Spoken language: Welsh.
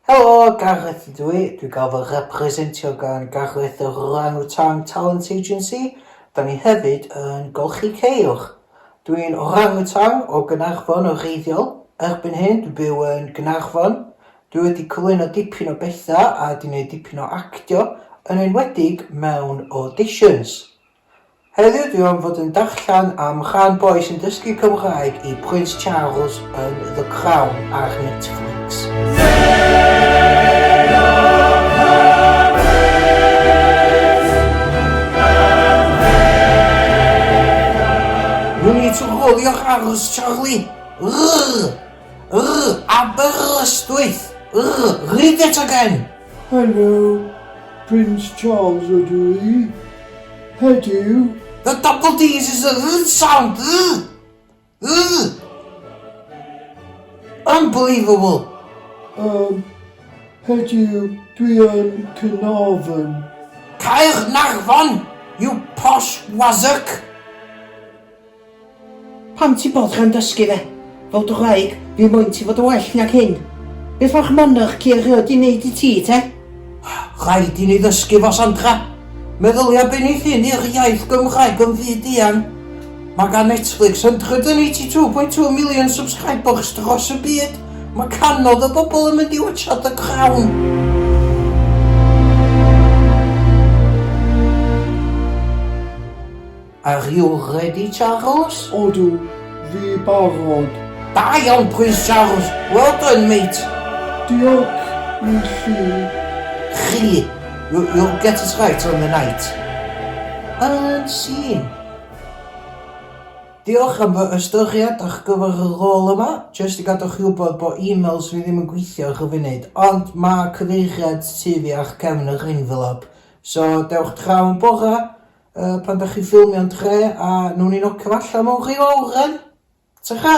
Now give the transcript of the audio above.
Helo, Gareth ydw i, dwi'n cael fy representio gan Gareth yr Orang-Utang Talent Agency, da ni hefyd yn golchi ceir. Dwi'n orang-utang o Gaernarfon o reiddiol, erbyn hyn dwi'n byw yn Gaernarfon. Dwi wedi cyflwyno dipyn o bethau a wedi gwneud dipyn o actio, yn enwedig mewn auditions. Heddiw dwi am fod yn darllen am chan boi sy'n dysgu Cymraeg i Prince Charles yn The Crown ar Netflix. You need to roll your R's, Charlie! Rrrr! Yr Aberystwyth! Yr! Read it again! Helo, Prince Charles ydw i. Heddiw. The double D's is a r sound. R. R. Unbelievable. Um, heddiw dwi yn Cynarfon. Caernarfon, you posh wazzock. Pam ti bod gan dysgu fe? Fel dy wraig, fi moyn ti fod yn well nag hyn. Beth mae'ch monarch ci erioed di neud i ti, te? Rhaid i ni ddysgu fo, Sandra. Meddylia be neith hyn i'r iaith Gymraeg yn fyd eang. Mae gan Netflix 182.2 million subscribers dros y byd. Mae canodd y bobl yn mynd i watsio The Crown. Are you ready, Charles? Odw, fi barod. Da iawn pwys, Charles. Well done, mate. Diolch i chi. Chi. You, you'll get it right on the night. Yn sîn. Diolch am fy ystyried ar gyfer y rôl yma. Jyst i gadw chi wybod bod e-mails fi ddim yn gweithio ar y funud, ond mae cyfeiriad tu fi ar cefn yr envelope. So, dewch draw yn bora, Yy pan dach chi'n ffilmio'n dre a newn ni nocio fo allan mewn rhyw awran. Tara!